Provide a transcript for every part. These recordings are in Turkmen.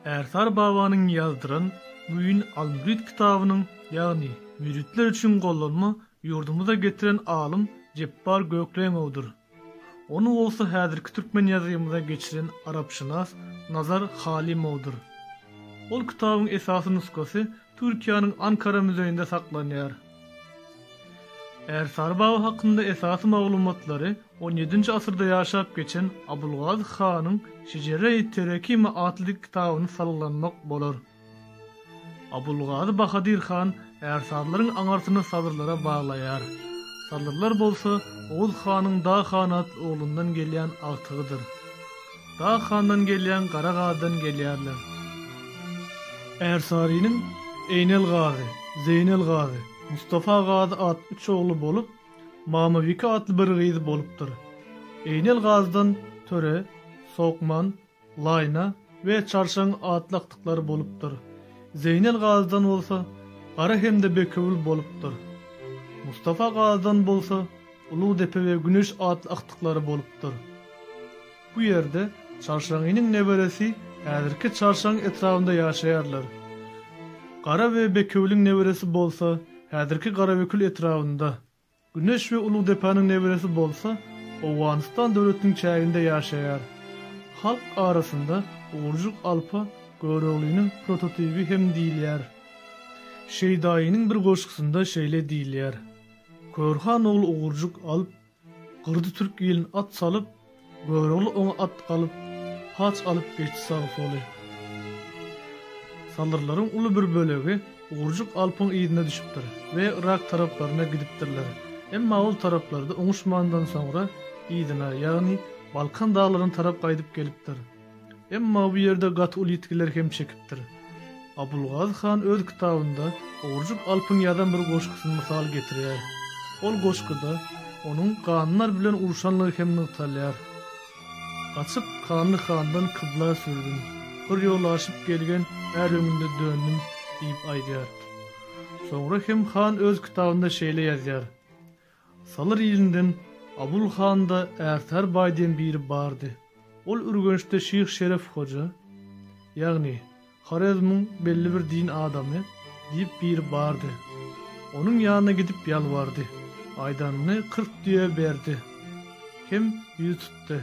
Ärsar babanyň ýazdyran Müýn al-Mürit kitabynyň, ýagny müritler üçin gollanma ýurdumyza getiren alym Jepbar Gökleňowdyr. Ony bolsa häzirki türkmen ýazgymyza geçiren arapşynas Nazar Halymowdyr. Ol kitabyň esasy nusgasy Türkiýäniň Ankara müzeýinde saklanýar. Ärsary baba hakynda esasy maglumatlary on ýedinji asyrda ýaşap geçen Abulgazy hanyň Şejere-i Terekime atly kitabyny salgylanmak bolar. Abulgazy Bahadyr han ärsarylaryň aňyrsyny sadyrlara baglaýar. Sadyrlar bolsa Oguz hanyň Dag han atly oglundan gelýän agtygydyr. Dag handan gelýän gara gazydan gelýärler. Ärsarynyň Eýnel gazy, Zeýnel gazy, Mustafa gazy atly üç ogly bolup, Mamabike atly bir gyzy bolupdyr. Eýnel gazydan Töre, Sokman, Laýna we Çarşaň atly agtyklary bolupdyr. Zeýnel gazydan bolsa Gara hem-de Bekewül bolupdyr. Mustafa gazydan bolsa Ulugdepe we Güneş atly agtyklary bolupdyr. Bu ýerde Çarşaň iniň neberesi häzirki Çarşaň etrabynda ýaşaýarlar. Gara we Bekewüliň neberesi bolsa häzirki Garabekül etrabynda, Güneş we Ulugdepaniň neberesi bolsa Owganystan döwletiniň çäginde ýaşaýar. Halk arasynda Ugurjyk Alpa Göroglynyň prototibi hem diýilýär. Şeýdaýynyň bir goşgusynda şeýle diýilýär. Körhan ogly ugurjyk alyp, gyrdy türk ilin at salyp, Görogly oňa at galyp, paç alyp geçdi sagy-soly. Salyrlaryň uly bir bölegi Ugurjyk Alpyň yzyna düşüpdir we Yrak taraplaryna gidipdirler. Emma ol taraplarda oňuşmandan soňra yzyna, ýagny Balkan daglaryna tarap gaýdyp gelipdir. Emma bu ýerde gaty uly ýitgiler hem çekipdir. Abulgazy han öz kitabynda Ogurjyk Alpyň ýazan bir goşgusyny mysal getirýär. Ol goşguda onuň ganlar bilen urşanlygy hem nygtalýar. Gaçyp, Kanly handan kybla sürdüm. Bir ýol aşyp gelgen är öňünde döndüm diýip aýdýar. Soňra hem han öz kitabynda şeýle ýazýar, Salyr ilinden Abul handa Ärtär baý diýen biri bardy. Ol Ürgençde Şyh Şeref hoja, ýagny Horezmiň belli bir din adamy diýip biri bardy. Onuň ýanyna gidip ýalbardy. Aýdanyny kyrk düýe berdi. Kem ýüz tutdy.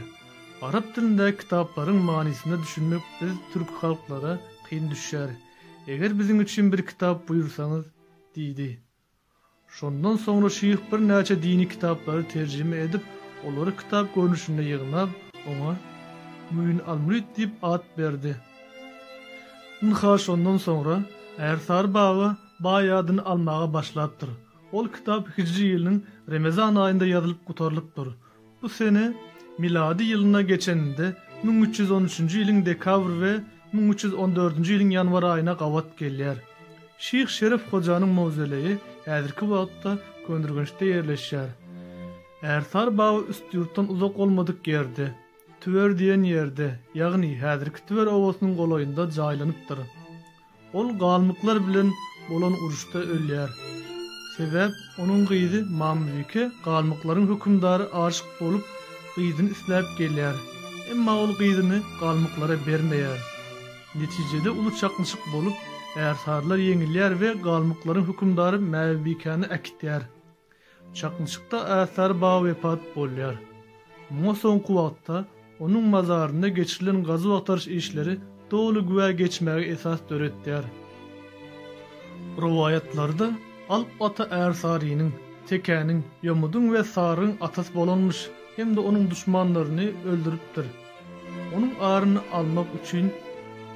Arap dilindäki kitaplaryň manysyna düşünmek biz türki halklara kyn düşýär. Eger biziň üçin bir kitap buýursaňyz, diýdi. Şondan soňra şyh birnäçe dini kitaplary terjime edip, olary kitap görnüşinde ýygnap, oňa Müýn al-Mürit diýip at berdi. Ynha, şondan soňra Ärsary bagy baý adyny almaga başlapdyr. Ol kitap hijri ýylynyň Remezan aýynda ýazylyp gutarylypdyr. Bu sene milady ýylyna geçeninde müň üç ýüz on üçünji ýylyň dekabr we müň üç ýüz on dördünji ýylyň ýanwar aýyna gabat gelýär. Şyh Şeref hojanyň mawzoleýi häzirki wagtda Köneürgençde ýerleşýär. Ärsar baba Üstýurtdan uzak bolmadyk ýerde, Tüwer diýen ýerde, ýagny häzirki Tüwer obasynyň golaýynda jaýlanypdyr. Ol galmyklar bilen bolan uruşda ölýär. Sebäp onuň gyzy Mamybike galmyklaryň hökümdary aşyk bolup, gyzyny isläp gelýär. Emma ol gyzyny galmyklara bermeýär. Netijede uly çaknyşyk bolup, ärsarylar ýeňilýär we galmyklaryň hökümdary Mäbibikäni äkitýär. Çaknyşykda Äsar baba wepat bolýar. Muňa soňky wagtda onuň mazarynda geçirilen gazuw-agtaryş işleri doly güwä geçmäge esas döretýär. Rowaýatlarda Alp ata Ärsarynyň, Tekäniň, Ýomudyň we Sarygyň atasy bolanmyş hem-de onuň duşmanlaryny öldüripdir. Onuň aryny almak üçin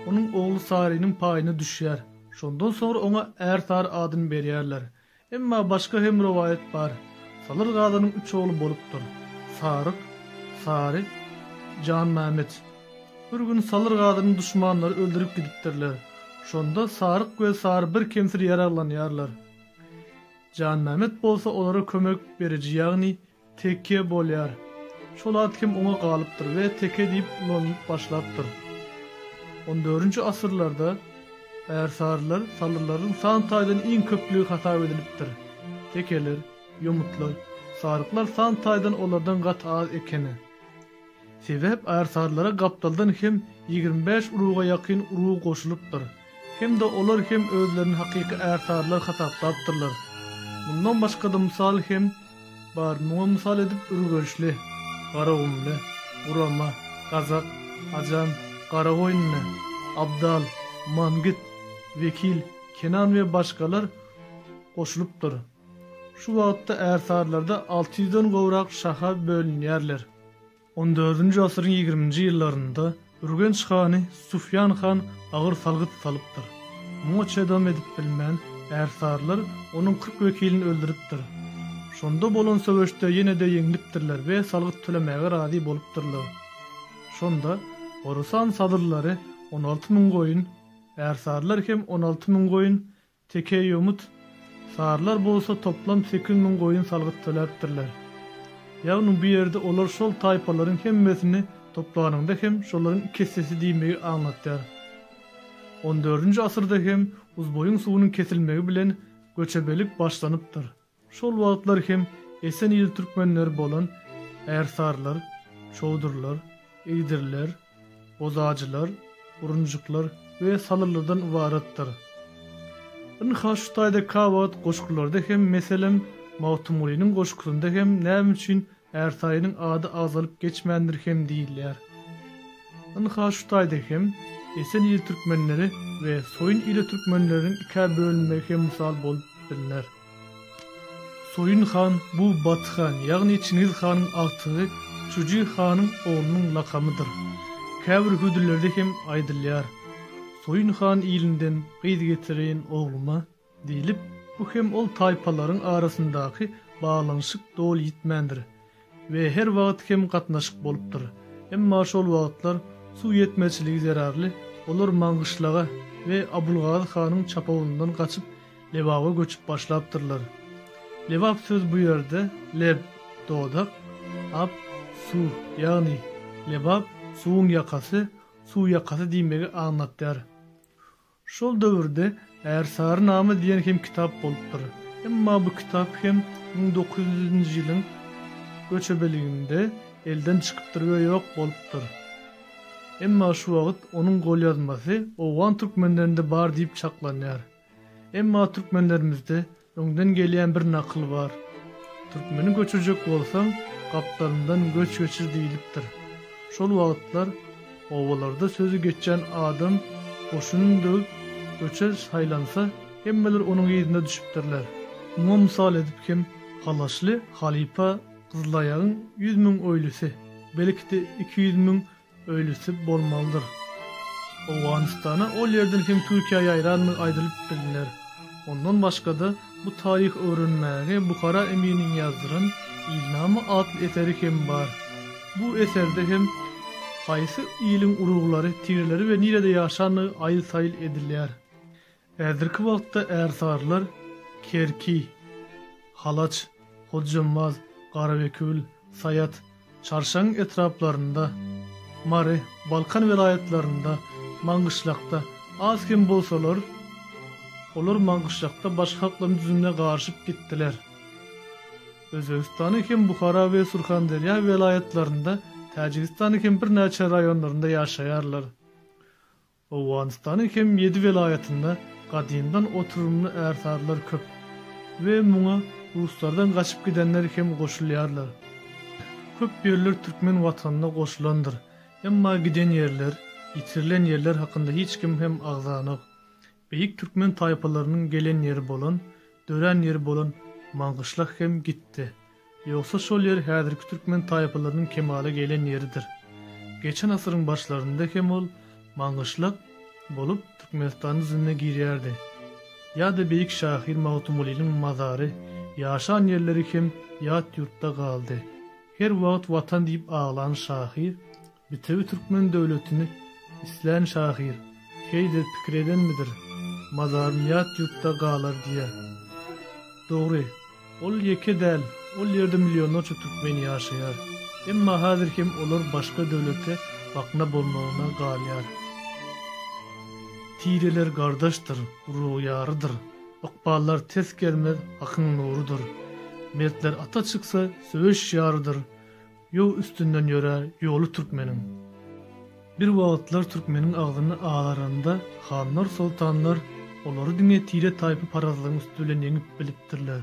onuň ogly Sarynyň paýyna düşýär. Şondan soňra oňa Ärsary adyny berýärler. Emma başga hem rowaýat bar. Salyr Gazanyň üç ogly bolupdyr. Saryk, Sary, Janmämet. Bir gün Salyr Gazany duşmanlary öldürip gidipdirler. Şonda Saryk we Sary bir kemsiz ýaraglanýarlar. Janmämet bolsa olara kömek beriji ýagny Teke bolýar. Şol at hem oňa galypdyr we teke diýip ulanylyp başlapdyr. On dördünji asyrlarda ärsarylar salylaryň san taýdan iň köplügi hasap edilipdir. Tekeler, ýomutlar, saryklar san taýdan olardan gaty az ekeni. Sebäp ärsarlara gapdaldan hem ýigrimi bäş uruga ýakyn urug goşulypdyr. Hem-de olar hem özlerini hakyky ärsarlar hasaplapdyrlar. Mundan başga-da mysal hem bar, muňa mysal edip Ürgençli, Garagumly, Gurama, Gazak, Ajam, Garagoýunly, Abdal, Mangit, Wekil, Kenan we başgalar goşulypdyr. Şu wagtda ärsarylarda alty ýüzden gowrak şaha bölünýärler. On dördünji asyryň ýigriminji ýyllarynda Ürgenç hany Sufýan han agyr salgyt salypdyr. Muňa çydam edip bilmän, ärsarylar onuň kyrk wekilini öldüripdir. Şonda bolan söweşde ýene-de ýeňlipdirler we salgyt tölemäge razy bolupdyrlar. Şonda Horasan sadyrlary on alty müň goýun, ärsarylar hem on alty müň goýun, Tekeýomut sarylar bolsa toplam sekiz müň goýun salgyt töläpdirler. Ýagny bu ýerde olar şol taýpalaryň hemmesini toplanyňda hem şolaryň iki essesi diýmegi aňlatýar. On dördünji asyrda hem Uzboýuň suwunyň kesilmegi bilen göçebelik başlanypdyr. Şol wagtlar hem Esen il türkmenleri bolan Ärsarylar, Çowdurlar, Igdirler, Bozajylar, Urunjyklar we Salylydan ybaratdyr. Ynha şu taýda kabahat goşgularda hem meselem Magtymgulynyň goşgusynda hem näme üçin Ärsaýynyň ady agzalyp geçmändir hem diýilýär. Ynha şu taýda hem Esen il türkmenleri we Soýun ile türkmenleriniň ikä bölünmegi hem mysal bolup bilner. Soýun han bu Baty han, ýagny Çingiz hanyň agtygy Çuji hanyň oglunyň lakamydyr. Käbir hüdürlerde hem aýdylýar, Soýun han ilinden gyz getireýin ogluma diýlip, bu hem ol taýpalaryň arasyndaky baglanyşyk doly ýitmändir. we her wagt hem gatnaşyk bolupdyr. Emma şol wagtlar suw ýetmezçiligi zerarly olar Maňgyşlaga we Abulgazy hanyň çapawulyndan gaçyp Lebaba göçüp başlapdyrlar. Lebap sözi bu ýerde leb, dodak, ap, suw, ýagny Lebap, suwuň ýakasy, suw ýakasy diýmegi aňlatýar. Şol döwürde Ärsary name diýen hem kitap bolupdyr. Emma bu kitap hem müň dokuz ýüz nji ýylyň göçebeliginde elden çykypdyr we ýok bolupdyr. Emma şu wagt onuň golýazmasy owgan türkmenlerinde bar diýip çaklanýar. Emma türkmenlerimizde Öňden gelýän bir nakyl bar. Türkmeni göçürjek bolsaň, gapdalyndan göç geçir diýlipdir. Şol wagtlar obalarda sözi geçýän adam goşunyny döwüp göçe saýlansa, hemmeler onuň yzyna düşüpdirler. Muňa mysal edip hem Halaşly halypa Gyzylaýagyň ýüz müň oýlusy, belki-de iki ýüz müň Öýlüsi bolmalydyr. Owganystana ol ýerden hem Türkiýä ýaýrandygy aýdylyp bilner. Ondan başga-da, bu taryhy öwrenmäge Buhara eminiň ýazdyran Ilnama atly eseri hem bar. Bu eserde hem haýsy iliň uruglary, tireleri we nirede ýaşandygy aýyl-saýyl edilýär. Häzirki wagtda ärsarylar Kerki, Halaç, Hojambaz, Garabekül, Saýat, Çarşaň etraplarynda, Mary, Balkan welaýatlarynda, Maňgyşlakda az kem bolsalar, olar Maňgyşlakda başga halklaryň düzümine garyşyp gitdiler. Özbegistanyň hem Buhara we Surhanderýa welaýatlarynda, Täjigistanyň hem birnäçe raýonlarynda ýaşaýarlar. Owganystanyň hem ýedi welaýatynda gadymdan oturymly ärsarlar köp we muňa ruslardan gaçyp gidenler hem goşulýarlar. Köp ýerler türkmen watanyna goşulandyr, emma giden ýerler, ýitirilen ýerler hakynda hiç kim hem agzanok. Beýik türkmen taýpalarynyň gelen ýeri bolan, dörän ýeri bolan Maňgyşlak hem gitdi. Ýogsa şol ýer häzirki türkmen taýpalarynyň kemala gelen ýeridir. Geçen asyryň başlarynda hem ol Maňgyşlak bolup Türkmenistanyň düzümine girýärdi. Ýa-da beýik şahyr Magtymgulynyň mazary, ýaşan ýerleri hem ýat ýurtda galdy. Her wagt Watan diýip aglan şahyr Bitewi türkmen döwletini islän şahyr heýdir pikir edenmidir, Mazarym ýat ýurtda galar diýýär. Dogry, ol ýeke däl, ol ýerde millionlarça türkmen ýaşaýar. Emma häzir hem olar başga döwlete bakna bolmagyna galýar. Tireler gardaşdyr, urug ýarydyr, Ykballar ters gelmez, hakyň nurudyr. Mertler ata çyksa, söweş ýarydyr. Ýow üstünden ýörär ýoly türkmeniň. Bir wagtlar türkmeniň agzyny azaranda hanlar soltanlar olary diňe tire taýpy parazlygyň üsti bilen ýeňip bilipdirler.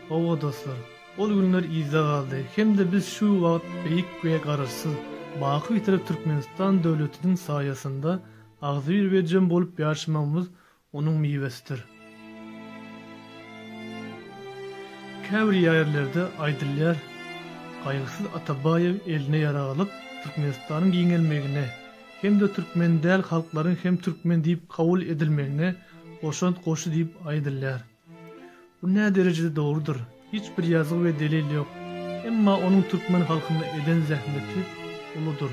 Howwa dostlar, ol günler yzda galdy hem-de biz şu wagt beýik we garaşsyz, baky bitirek Türkmenistan döwletiniň saýasynda agzybir we jem bolup ýaşamagymyz Onuň miwesidir. Käbir ýerlerde aýdylýar, Gaýgysyz Atabaýew eline ýarag alyp, Türkmenistanyň giňelmegine hem-de türkmen däl halklaryň hem türkmen diýip kabul edilmegine goşant goşdy diýip aýdylýar. Bu näderejede dogrudyr, hiç bir ýazgy we delil ýok, emma onuň türkmen halkyna eden zähmeti uludyr.